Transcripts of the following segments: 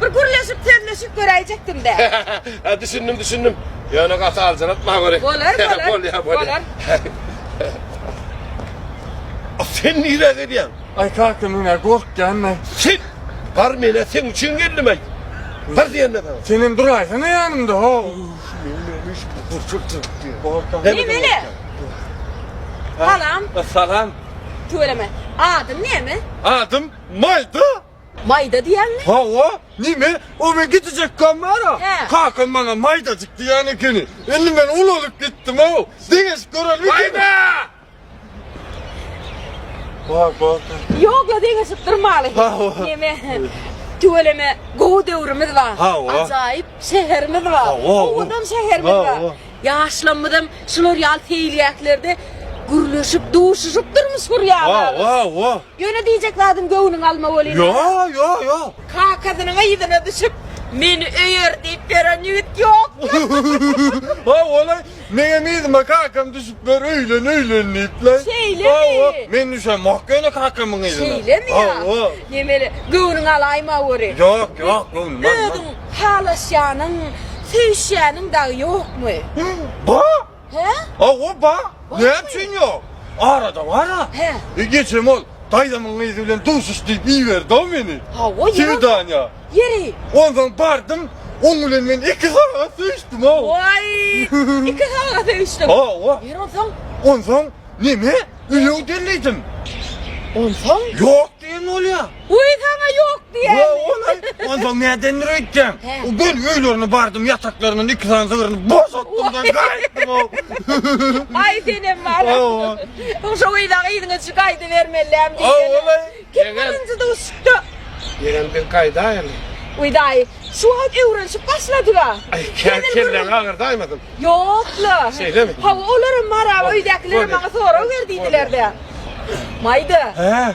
Bir gürleşip sözleşip göräýjekdimdä. Hä, düşündim, düşündim. Ýöne gaty aljyratma görä. Bolar, bolar. Bolýar, bolýar. A sen nirä gelýäň? Aý kaka men-ä gorkýan-da. Sen! Bar men-ä seň üçin geldim-aý. Bar diýende sana. Senem duraýsana ýanymda, haw. Nemeli? Salam. Salam. Tüweleme. Adyň näme? Adym Maýda. Maýda diýýäňmi? Hawa, neme, o men gidijekkäm bara, kakam maňa maýdajyk diýen ekeni. Indi men ulalyp gitdim-ow. Deňeşip görelibikin? Maýda! Ýok-la, deňeşip durmaly. Neme, tüweleme, gowy döwrümiz bar. Hawa. Ajaýyp şäherimiz bar. Hawa. Owadan şäherimiz bar. Hawa. Ýaşlarymyzam şular ýaly seýilgählerde gürleşip, duşuşyp durmuş gurýarlarys. Hawa, hawa. Ýöne diýjek zadyň göwnüňi alma welin. Ýo, ýo, ýo. Kakasynyň yzyna düşüp, meni öýer diýip beren ýigit ýokmy? Ho, ola, meňem yzyma kakam düşüp bir öýlen, öýlen diýipler. Şeýlemi? Hawa, men düşemok ýöne kakamyň yzyna. Şeýlemi ýa? Hawa. Nemeli, göwnüňi alaýma weli. Ýok, ýok, göwnümi alman. Özüň halaşýanyň, söýüşýäniň dagy ýokmy? Bo! He? Awa ba, näme üçin ýok? Arada bar-a. He. E geçem ol daýzamyň gyzy bilen duşuş diýip iberdi-ow meni. Hawa, ýeri. Swidaniýa. Ýeri. Onsoň bardym, oň bilen men iki sagat söýüşdim-ow. Waý! Iki sagat söýüşdiň. Hawa. Ýeri onsoň? Onsoň, neme? Üýe-u diýen diýdim. Onsoň? Ýok diýen bolýa. Uý saňa ýok diýýän. Ol-aý, onsoň nädendir öýtýäň? Gel öýlerine bardym, ýataklaryndan iki sany sygyryny boşatdym-da gaýtdym-ow. Aý senem bar. Soň şo gyza gyzyňyz üçin gaýdybermeliläm diýýän. Ol-aý. Kim birinji duşupdy? Ýegen biz gaýdaýaly. Uý daýy, şu wagt öwrenişip başladyga. Aý, kelläň agyrdaýmasyn? Ýok-la. Şeýlemi? Hawa, olaram baraba öýdäkilere maňa sorag ber diýdiler-dä. Maýda. Hä?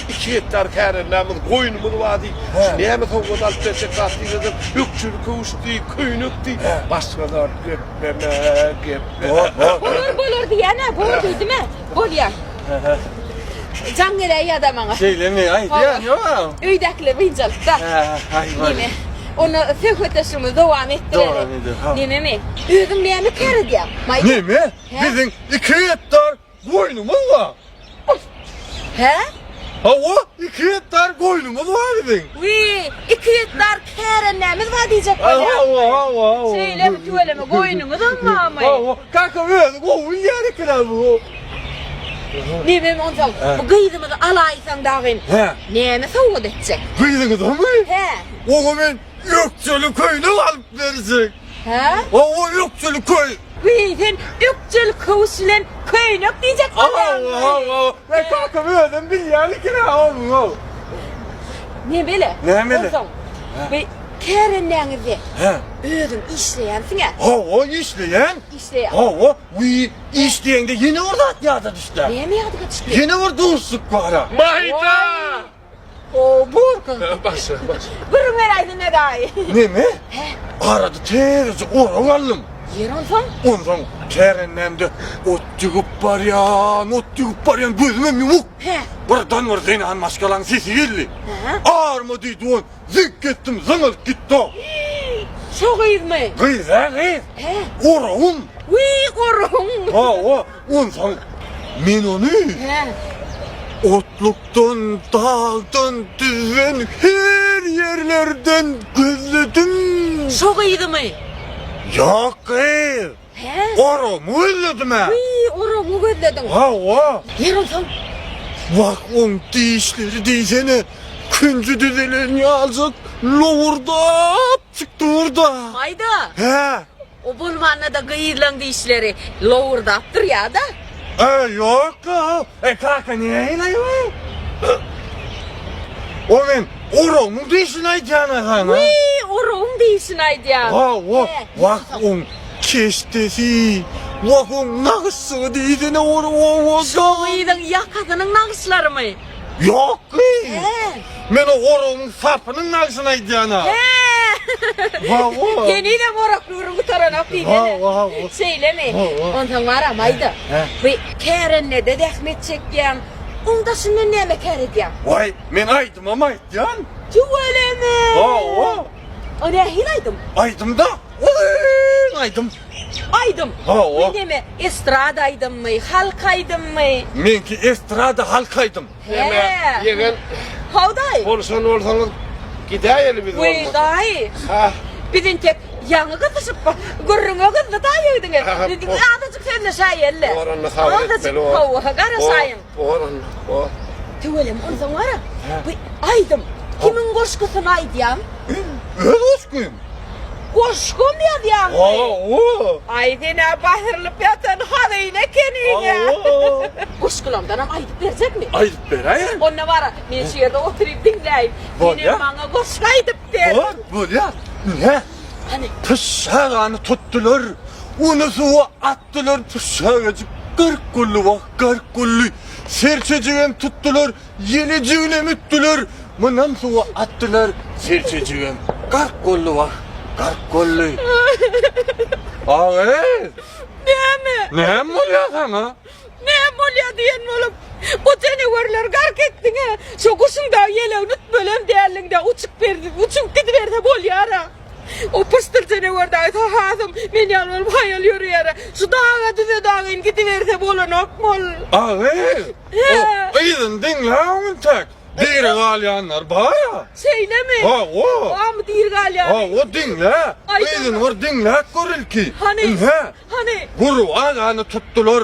Iki gektar kärenmämiz, goýnumyz bar diý. Şu näme sowgat alyp berjek zat diý desem, ökjeli köwüş diý, köýnek diý. Başga zat gepleme, gepleme. Bolar, bolar diýýän-ä, bor diýdim-ä. Bolýa. Jaň geläý ýa-da maňa. Şeýlemi? Aý, zyýan ýok-aw. Öýdäkiler birinji alyp-da. Aý, bor. Neme? Onda söhbetdeşligimizi dowam etdireli. Dowam ederis, ha. Nememi? Özüň näme käredýäň? Maý. Neme? Biziň iki gektar Goýnumyz bar. Hä? Hawa, iki gektar goýnumyz bar biziň. Wiý, iki gektar kärendämiz bar diýjek bolýaň. Hawa, hawa, hawa. Şeýlemi, tüweleme, goýnuňyzam barmy? Hawa, kaka özi gowy bilýär ekeni-ä bu. Nebem onsoň, bu gyzymyzy alaýsaň dagyn, Hä? näme sowgat etjek? Gyzyňyzamy? Hä. Oňa men ökjeli köýnek alyp berjek. Hä? Hawa, ökjeli köý. Wiý, sen ökjeli köwüş bilen köýnek diýjek bolýaňmy? Hawa, hawa. Ýa kakam özem bilýänikin-ä onuň-a. Nemeli? Nämeli? Onsoň, bu kärendäňizde Hä? özüň işleýänsiň-ä? Hawa, işleýän. Işleýän. Hawa, wiý, iş diýeňde ýene bir zat ýada düşdä. Näme ýadyňa düşdi? Ýene bir duşuşyk bar-a. Maýda! Oo borka. Başla başla. Gürrüň beräýsin edaýy. Neme? He. Arada terzi orag aldym. Ýer onsoň? Onsoň terendemde ot ýygyp barýan, ot ýygyp barýan gözümem ýumuk. He. Birden bir zenan maşgalaň sesi geldi. He. Arma diýdi on. Zyňk etdim zyňylt gitdo. Şo gyzmy? Gyz a gyz. He. Orowun. Wiý orowun. Hawa onsoň men ony. He. Otlukdan dagdan düzden her ýerlerden gözledim. Şo gyzymy? Ýok gyz. Pes. Oragymy gözledim-ä. Wiý, oragyňy gözlediň. Hawa. Ýaramsaň. Wah, oň dişleri diýsene, künji düzelen ýaljak lowurdap çykdy dur-da. Maýda. Hä? O bolmanda-da gyzlaň dişleri lowurdap durýa-da. E, ýok-la. E, kaka, näleýin-aý men? O men oragyň dişini aýdýan-a, han-a. Wiý, oragyň dişini aýdýan. Hawa. Wah, oň Keşdesi. Wahuň nagyşçygy diýsene ol owadan. Şo gyzyň ýakasynyň nagyşlarymy? Ýokgy. Men o oragyň sapynyň nagyşyny aýdýan-a. Wawa. Henizem orak döwrüň gutaranok diýsene. Wawa. Şeýlemi? Onsoň maram aýda. Bu kärendede zähmet çekýäň. Oň daşyndan näme kär edýäň? Waý, men aýdymam aýdýan. Tüweleme. Wawa. O nähili aýdym? Aýdym-da. Oýň aýdym. Aýdym. Hawa. Men näme, estrada aýdymmy, halk aýdymmy? Meňki estrada, halk aýdym. Näme, ýegen. Haw daýy. Bolşan bolsaňyz gidäýeli biz bolmasa. Weý daýy. Ha. Biz entek ýaňy gysyşyp bir gürrüňe gyzdy daýy öýdüňe. Azajyk sözleşäýeli. Bar onda habar etmeli bol. Hawa, garaşaýyň. Tüweleme onsoň wara bu aýdym kimiň goşgusyny aýdýaň? Öz goşgym. Goşgam ýazýaňmy? Hawa. Aý sen-ä basyrylyp ýatan hazyna ekeniň-ä. Goşgulardanam aýdyp berjekmi? Aýdyp beräýeň. Onda wara men şu ýerde oturyp diňläýin. Sen hem maňa goşgy aýdyp ber. Bor, bolýar. Ine. Hany. Pyşşagany tutdular, uny suwa at. Tutdular püşşägejik gark gully wah gark gully. Serçejigem tutdular ýelejiginem ütdüler. Mynam suwa atdylar serçejigem gark gully wah gark gully. Agyz. Näme? Näme bolýa saňa? Näme bolýa diýen bolup. Bu jenewerler gark etdiňä. Şu guşuň dagy ýelegini ütmelem däldiňdä uçup berdi uçup gidiberse bolýara. O pyşdyr jenewar dagy Sahasym, men ýaly bolup haýal ýörýär-ä. Şu daga düze dagyn gidiberse bolanokmy ol? Agyr! O yzyny diňläň entek. Diri galýanlar bar-a. Şeýlemi? Hawa. Barmy diri galýany? Hawa, diňle. Yzyny bir diňläp gör ilki. Hany? Ynha. Hany? Gurby agany tutdular.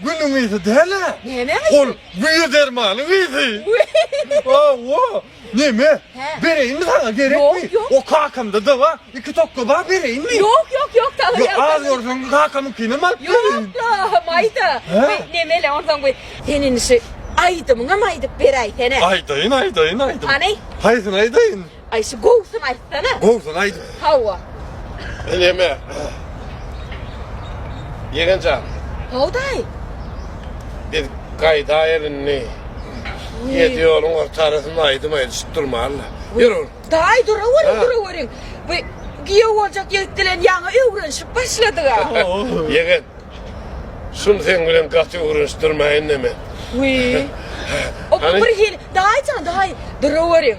Günüň ysy däl-ä. Neneň ysy? Ol güýe dermanyň ysy. Hawa. Neme? Hä. Bereýinmi saňa, gerekmi? Ýok, ýok. O kakamda-da bar. Iki tokga bar, bereýinmi? Ýok, ýok, ýok, sag ol. Ýa, az görseň, kakamyňkyny alyp gelin. Ýok-la, maýda. Hä? Be, neme-le, onsoň bir sen indi şu aýdymyňam aýdyp beräýsene. Aýdaýyn, aýdaýyn aýdym. Hany? Haýsyny aýdaýyn? Ay şu gowusyny aýtsana. Gowusyny aýt. Hawa. Eleme. Ýegenjan. Howdaý. Biz gaýdaýyl indi. Ýedi ýoluň ortarasynda aýdym aýdyşyp durmalyla. Ýör. Daýy duraweriň, duraweriň. Bu giýew boljak ýigit bilen ýaňy öwrenişip başladyga. Ýegen. Şuny seň bilen gaty öwrenişdirmäýin-de men. Wiý. Hany? Birhili, daýyjan, daýy, duraweriň.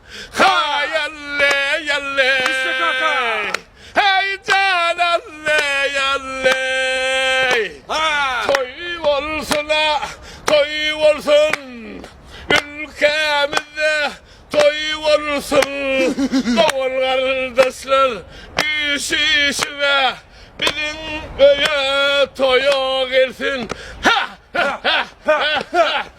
Haý alley alley Heý jan alley alley Toý bolsuna toý bolsun Ülkämizde toý bolsun Dogan gardaşlar üýşüşibe Biziň öýe toýa gelsin Heh heh heh heh heh